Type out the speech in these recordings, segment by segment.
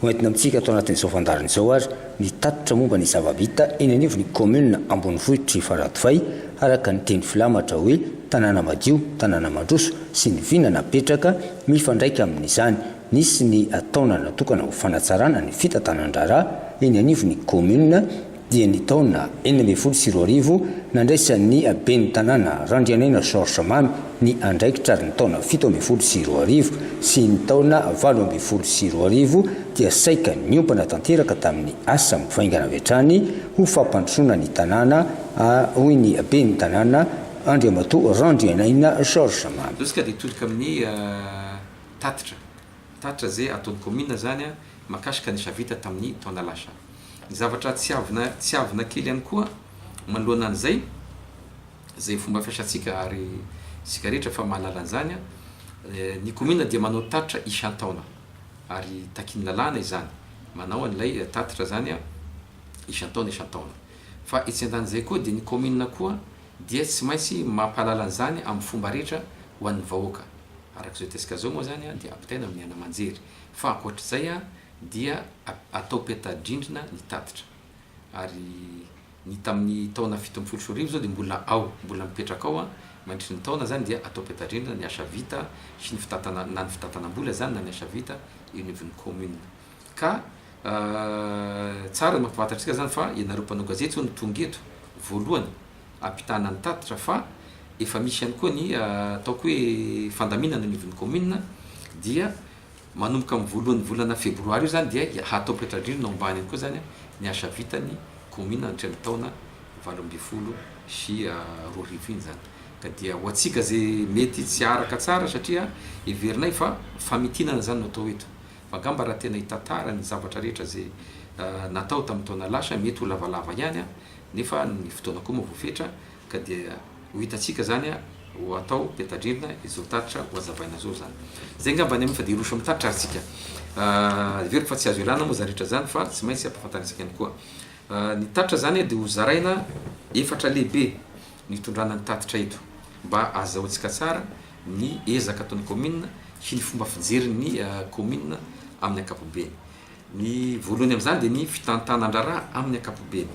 Ho entina amintsika ato anatin'izao fandaharana izao ary ny tatitra momba ny zava-bita eny anivon'ny kaominina ambonivohitr'i Faradofay araka ny teny filamatra hoe tanàna madio, tanàna mandroso sy ny vina napetraka mifandraika amin'izany. Nisy ny taona natokana ho fanatsarana ny fitantanan-draharaha eny anivon'ny kaominina. dia ny taona enina ambin'ny folo sy roa arivo, nandraisan'ny ben'ny tanàna Randrianaina Georges Mamy ny andraikitra ary ny taona fito ambin'ny folo sy roa arivo sy ny taona valo ambin'ny folo sy roa arivo dia saika niompana tanteraka tamin'ny asa mivaingana avy hatrany ho fampandrosoana ny tanàna, hoy ny ben'ny tanàna, Andriamatoa Randrianaina Georges Mamy. Bilaogy ka dia tolika amin'ny tatitra. Tatra ze ataony kaominina zany a makasika ny asa vita taminy taona lasa. Ny zavatra tsiavina tsiavina kely ihany koa manoloana an'izay ze fomba fiasantsika ary sika rehetra fa mahalala an'izany a ny kaominina dia manao tatitra isantaona ary takin'ny lalàna izany manao an'ilay tatitra zany a isantaona isantaona fa etsy andanin'izay koa dia ny kaominina koa dia tsy maintsy mampahalala an'izany amin'ny fomba rehetra ho an'ny vahoaka. Araka izao hitatsika izao moa izany dia ampitaina amin'ny aina aman-jery. Fa ankoatra izay dia atao peta-drindrina ny tatitra. Ary ny tamin'ny taona fito ambin'ny folo sy roa arivo izao dia mbola ao, mbola mipetraka ao mandritry ny taona izany dia atao peta-drindrina ny asa vita sy ny fitantanana, na ny fitantanam-bola izany na ny asa vita eo anivon'ny kaominina. Ka tsara ny mampahafantatra antsika zany fa ianareo mpanao gazety zao no tonga eto voalohany ampitahana ny tatitra fa efa misy ihany koa ny ataoko hoe fandaminana anivon'ny commune dia manomboka amin'ny voalohan'ny volana febroary io zany dia hatao petra-drindrina ao ambany eny koa zany ny asa vitan'ny commune nandritra ny taona valo ambin'ny folo sy roa arivo iny zany ka dia ho antsika ze mety tsy araka tsara satria heverinay fa famitinana zany no atao eto Fa gamba raha tena hitantara ny zavatra rehetra ze natao tamin'ny taona lasa mety ho lavalava ihany an, nefa ny fotoana koa moa voafetra ka dia ho hitantsika zany an, ho atao petadrindrina izao tatitra ho azabaina zao zany. Zay ngamba ny amin fa dia hiroso amin'ny tatitra ary tsika. Heveriko fa tsy azo ialana moa zany rehetra zany fa tsy maintsy ampafantarintsika ihany koa. Ny tatitra zany dia ho zaraina efatra lehibe nitondrana ny tatitra eto mba azahoantsika tsara ny ezaka ataon'ny kaominina sy ny fomba fijery ny kaominina amin'ny ankapobeny. Ny voalohany amin'izany dia ny fitantanan-draharaha amin'ny ankapobeny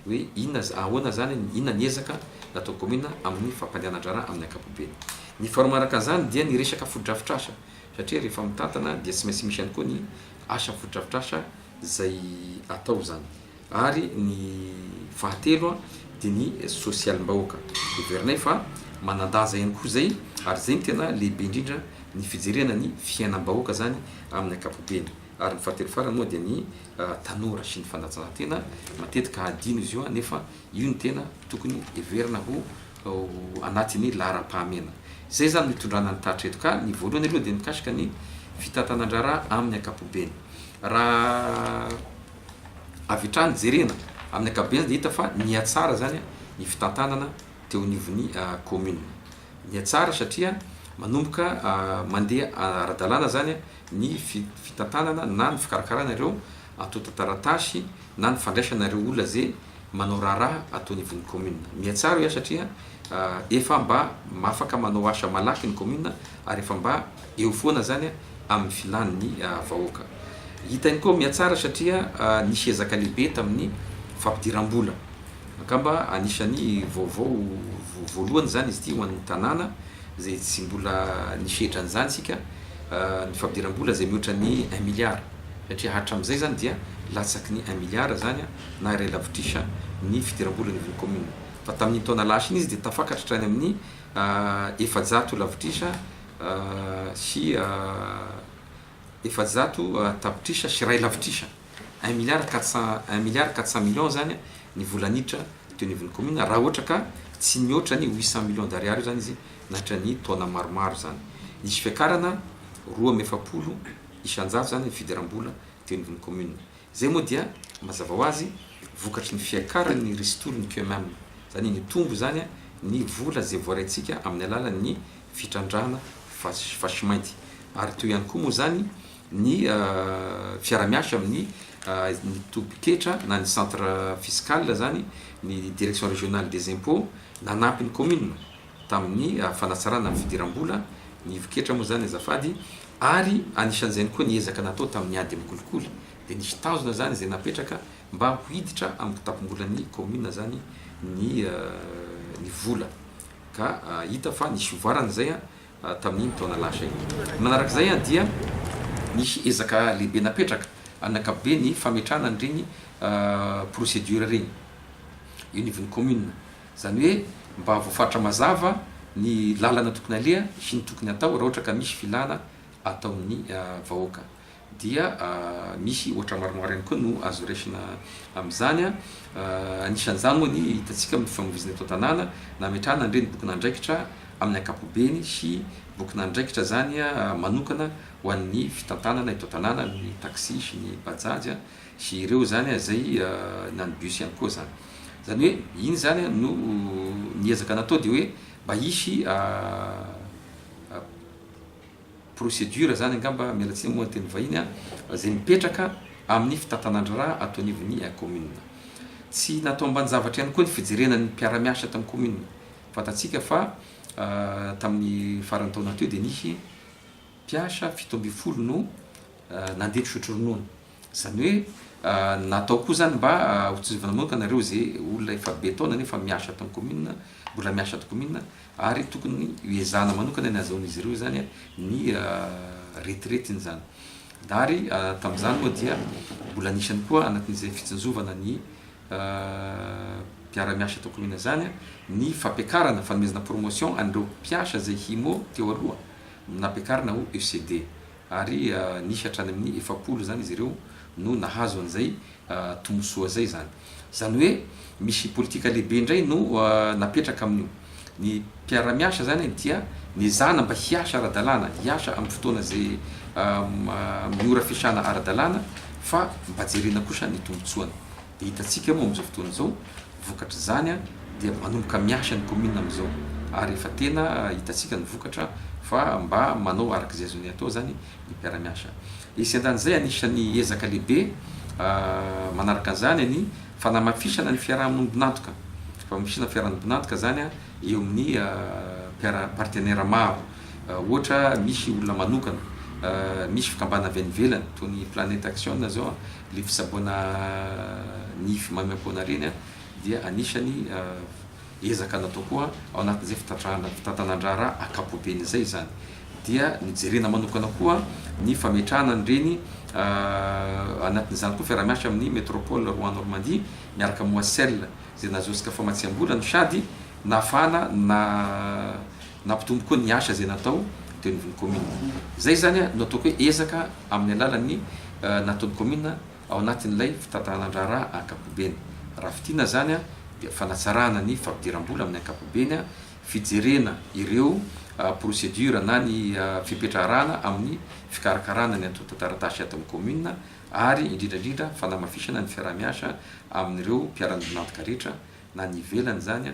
hoe inona, ahoana izany, inona ny ezaka nataon'ny kaominina amin'ny fampandehanan-draharaha amin'ny ankapobeny. Ny faharoa manaraka an'izany dia ny resaka fotodrafitrasa satria rehefa mitantana dia tsy maintsy misy ihany koa ny asa fotodrafitrasa izay atao izany. Ary ny fahatelo dia ny sosialim-bahoaka. Heverina fa manan-daza ihany koa izay ary izay no tena lehibe indrindra ny fijerena ny fiainam-bahoaka izany amin'ny ankapobeny. Ary ny fahatelo farany moa dia ny tanora sy ny fanatanjahantena. Matetika hadino izy io nefa io no tena tokony heverina ho anatin'ny laharam-pahamehana. Izay izany no itondrana ny taratra eto. Ka ny voalohany aloha dia mikasika ny fitantanan-draharaha amin'ny ankapobeny. Raha. avy hatrany jerena, amin'ny ankapobeny dia hita fa nihatsara izany ny fitantanana teo anivon'ny kaominina. Nihatsara satria manomboka mandeha ara-dalàna izany ny fitantanana na ny fikarakarana ireo antontan-taratasy na ny fandraisana ireo olona izay manao raharaha ato anivon'ny kaominina. Mihatsara hoy aho satria efa mba afaka manao asa malaky ny kaominina ary efa mba eo foana zany amin'ny filan'ny vahoaka. Hitany koa mihatsara satria nisy ezaka lehibe tamin'ny fampidiram-bola. Angamba anisan'ny vaovao voalohany izany izy ity ho an'ny tanàna izay tsy mbola nisy hetran'izany isika, ny fampidiram-bola izay mihoatra ny un milliard satria hatramin'izay izany dia latsaky ny un milliard izany na iray lavitrisa ny fidiram-bola anivon'ny commune fa tamin'iny taona lasa iny izy dia tafakatra hatrany amin'ny efajato lavitrisa sy efajato tapitrisa sy iray lavitrisa, un milliard quatre cent, un milliard quatre cent millions izany ny vola niditra teo anivon'ny kaominina, raha ohatra ka tsy nihoatra ny huit cent millions d'ariary io izany izy nandritra ny taona maromaro izany. Nisy fiakarana roa amby efapolo isan-jato izany ny fidiram-bola teo anivon'ny kaominina. Izay moa dia, mazava ho azy, vokatry ny fiakaran'ny ristourne que même. Izany hoe nitombo izany ny vola izay voaraintsika amin'ny alalan'ny fitrandrahana fasimainty. Ary toy ihany koa moa izany ny fiara-miasa amin'ny ny tobi-ketra na ny centre fiscal izany, ny direction régionale des impôts, nanampy ny kaominina. tamin'ny fanatsarana ny fidiram-bola, ny ivon-ketra moa izany azafady, ary anisan'izany koa ny ezaka natao tamin'ny ady amin'ny kolikoly, dia nisy tanjona izany izay napetraka mba ho hiditra amin'ny kitapom-bolan'ny kaominina izany ny ny vola, ka hita fa nisy fivoarana izay tamin'iny taona lasa iny. Ny manaraka izay dia nisy ezaka lehibe napetraka amin'ny ankapobeny fametrahana an'ireny procédure ireny eo anivon'ny kaominina. Izany hoe mba voafaritra mazava ny lalana tokony aleha sy ny tokony atao raha ohatra ka misy filana ataon'ny vahoaka. Dia misy ohatra maromaro ihany koa no azo raisina amin'izany. Anisan'izany moa ny hitantsika amin'ny fifamoivoizana eto an-tanàna na hametrahana ny renim-bokin'andraikitra amin'ny ankapobeny sy bokin'andraikitra izany manokana ho an'ny fitantanana eto an-tanàna, ny taxi sy ny bajaj. Sy ireo izany an, izay na ny bus ihany koa izany. Izany hoe iny izany an no ny ezaka natao dia hoe mba hisy procédure izany angamba, miala tsiny moa ny teny vahiny an, izay mipetraka amin'ny fitantanan-dra ato anivon'ny commune. Tsy natao ambanin-javatra ihany koa ny fijerena ny mpiara-miasa ato amin'ny commune. Fantatsika fa tamin'ny faran'ny taona teo dia nisy mpiasa fito ambin'ny folo no nandeha nisotro ronono. Izany hoe natao koa izany mba hotsizovina manoka nareo ze olona efa be taona nefa miasa ato amin'ny commune, mbola miasa ato commune ary tokony hoezahana manokana ny hazahoan'izy ireo izany ny retiretiny izany. Ary tamin'izany moa dia mbola nisy ihany koa anatin'izay fitsinjovana ny mpiara-miasa ato commune izany ny fampiakarana, fanomezana promotion an'ireo mpiasa izay himo teo aloha nampiakarina ho ECD. Ary nisy hatrany amin'ny efapolo izany izy ireo no nahazo an'izay tombontsoa izay izany. Izany hoe misy politika lehibe indray no napetraka amin'io. Ny mpiara-miasa izany dia nezahana mba hiasa ara-dalàna, hiasa amin'ny fotoana izay amin'ny ora fiasana ara-dalàna fa mba jerena kosa ny tombontsoany. Hitantsika moa amin'izao fotoana izao vokatr'izany dia manomboka miasa ny kaominina amin'izao ary efa tena hitantsika ny vokatra fa mba manao araka izay azony atao izany ny mpiara-miasa. Etsy andanin'izay anisan'ny ezaka lehibe manaraka an'izany ny fanamafisana ny fiaraha-monim-binantoka, fanamafisana ny fiaraha-monim-binantoka izany eo amin'ny mpiara, partenaires maro. Ohatra misy olona manokana, misy fikambana avy any ivelany toy ny Planète Action izao Ilay fisaboana nify maimaimpoana ireny dia anisany ezaka natao koa ao anatin'izay fitantanan-draharaha ankapoben' izay izany. Dia nojerena manokana koa ny fametrahana an'ireny anatin'izany koa fiaraha-miasa amin'ny Métropole Rouen Normandie miaraka amin'ny Oacel izay nahazoasika famatsiam-bola no sady nahafahana na Nampitombo koa ny asa izay natao teo anivon'ny kaominina. Izay izany no ataoko hoe ezaka amin'ny alalan'ny nataon'ny kaominina ao anatin'ilay fitantanànan-draharaha ankapobeny. Raha fintinina izany dia fanatsarahana ny fampidiram-bola amin'ny ankapobeny, fijerena ireo procédures na ny fipetraharahana amin'ny fikarakarana ny antontan-taratasy ato amin'ny kaominina ary indrindra indrindra fanamafisana ny fiaraha-miasa amin'ireo mpiara-miombon'antoka rehetra na ny ivelany izany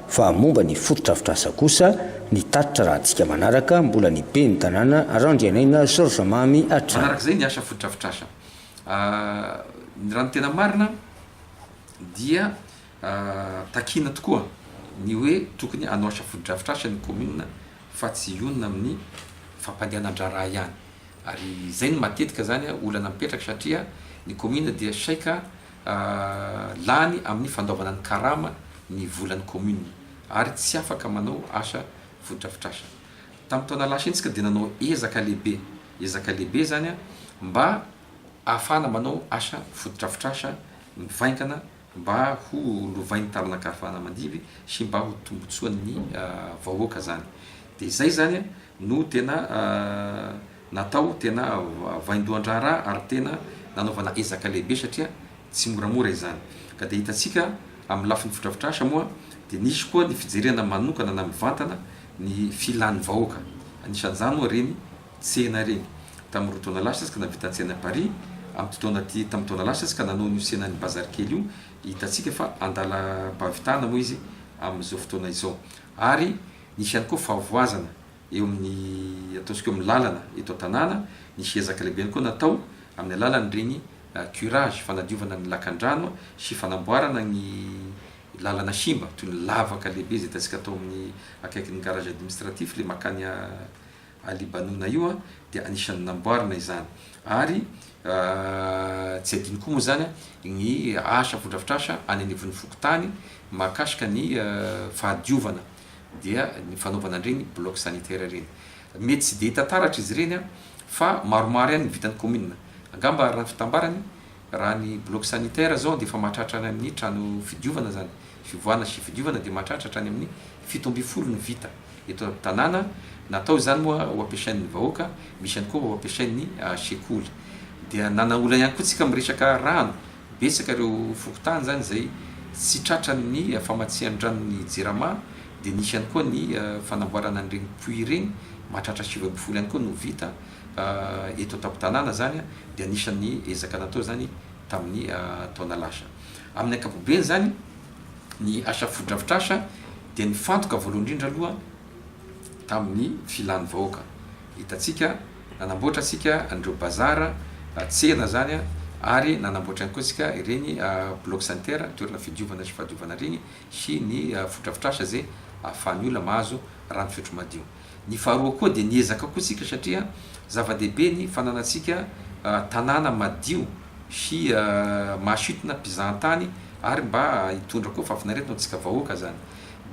Fa momba ny fotodrafitrasa kosa, ny tatitra rahantsika manaraka, mbola ny Ben'ny tanàna Randrianaina Georges Mamy hatrany. Manarak'izay ny asa fotodrafitrasa. Ny raha ny tena marina dia takiana tokoa ny hoe tokony hanao asa fotodrafitrasa ny kaominina fa tsy hionona amin'ny fampandehanan-draharaha ihany. Ary izay no matetika izany olana mipetraka satria ny kaominina dia saika lany amin'ny fandaovana ny karama ny volan'ny commune ary tsy afaka manao asa fotodrafitrasa. Tamin'ny taona lasa iny isika dia nanao ezaka lehibe, ezaka lehibe izany mba ahafahana manao asa fotodrafitrasa mivaingana mba ho lovain'ny taranaka ahafahana mandidy sy mba ho tombotsoan'ny vahoaka izany. Dia izay izany no tena Natao tena vaindohan-draharaha ary tena nanaovana ezaka lehibe satria tsy moramora izany. Ka dia hitantsika amin'ny lafiny fodrafitrasa moa dia nisy koa ny fijerena manokana na mivantana ny filan'ny vahoaka. Anisan'izany moa ireny tsena ireny. Tamin'ny roa taona lasa izy ka nahavita ny tsenan'i Paris. Amin'ity taona ity, tamin'ny taona lasa izy ka nanao an'io tsenan'ny bazary kely io. Hitantsika fa andalam-pahavitana moa izy amin'izao fotoana izao. Ary nisy ihany koa fahavoazana eo amin'ny ataontsika eo amin'ny lalana eto an-tanàna, nisy ezaka lehibe ihany koa natao amin'ny alalan'ireny curage, fanadiovana ny lakandrano sy fanamboarana ny lalana simba, toy ny lavaka lehibe izay hitantsika tao amin'ny akaikin'ny garage administratif, ilay mankany Alibanona io dia anisan'ny namboarina izany. Ary tsy adino koa moa izany ny asa, fotodrafitrasa any anivon'ny fokontany mahakasika ny fahadiovana. dia ny fanaovana an'ireny bloc sanitaire ireny. Mety tsy dia hita taratra izy ireny fa maromaro ihany ny vitan'ny kaominina. Angamba araka ny fitambarany, raha ny bloc sanitaire izao dia efa mahatratra any amin'ny trano fidiovana izany, fivoahana sy fidiovana dia mahatratra hatrany amin'ny fito ambin'ny folo ny vita eto an-tanàna. Natao izany moa ho ampiasain'ny vahoaka, misy ihany koa ho ampiasain'ny sekoly. Dia nanana olana ihany koa isika amin'ny resaka rano. Betsaka ireo fokontany izany izay tsy tratran'ny famatsian-dranon'ny Jirama dia nisy ihany koa ny fanamboarana an'ireny puits ireny, mahatratra sivy ambin'ny folo ihany koa no vita eto an-tampon-tanàna izany dia anisan'ny ezaka natao izany tamin'ny taona lasa. Amin'ny ankapobeny izany ny asa fotodrafitrasa dia nifantoka voalohany indrindra aloha tamin'ny filan'ny vahoaka. Hitantsika, nanamboatra isika an'ireo bazar, tsena izany, ary nanamboatra ihany koa isika ireny bloc center, toerana fidiovana sy fahadiovana ireny, sy ny fodrafotrasa izay ahafahan'ny olona mahazo rano fisotro madio. Ny faharoa koa dia niezaka koa isika satria zava-dehibe ny fananantsika tanàna madio sy mahasintona mpizahan-tany ary mba hitondra koa fahafinaretana ho antsika vahoaka izany.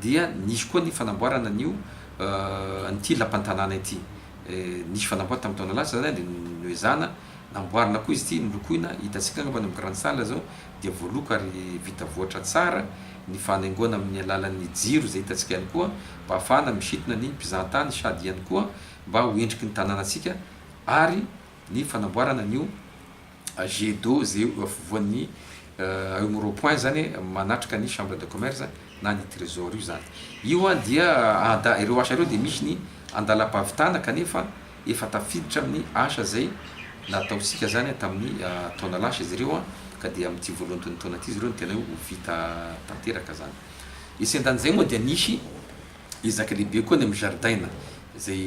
dia nisy koa ny fanamboarana an'io an'ity lapan-tanàna ity. Nisy fanamboarana tamin'ny taona lasa izany dia noezahana namboarina koa izy ity, nolokoina, hitantsika angamba any amin'ny Grande Salle izao dia voaloko ary vita voatra tsara, ny fanaingoana amin'ny alalan'ny jiro izay hitantsika ihany koa mba hahafahana misintona ny mpizahan-tany sady ihany koa mba ho endriky ny tanànantsika ary ny fanamboarana an'io jet d'eau zay eo afovoan'ny eo amin'ny rond point zany manatrika ny chambre de commerce na ny tresor io zany. Io an dia ada ireo asa ireo dia misy ny andalam-pahavitana kanefa efa tafiditra amin'ny asa zay nataontsika zany tamin'ny taona lasa izy ireo an ka dia amin'ity voalohan'itony taona ity izy ireo no tena hoe ho vita tanteraka zany. Etsy andanin'izay moa dia nisy Ezaka lehibe koa ny amin'ny zaridaina izay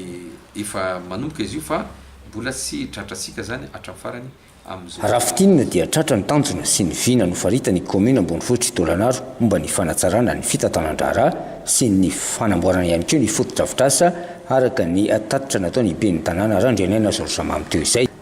efa manomboka izy io fa mbola tsy tratra antsika izany hatramin'ny farany amin'izao. Raha fintinina dia tratra ny tanjona sy ny vina nofaritan'ny kaominina ambonivohitr'i Tôlanaro momba ny fanatsarana ny fitantanan-draharaha sy ny fanamboarana ihany koa ny fotodrafitrasa araka ny tatitra nataon'ny ben'ny tanàna Randrianaina Zorjamamy teo izay.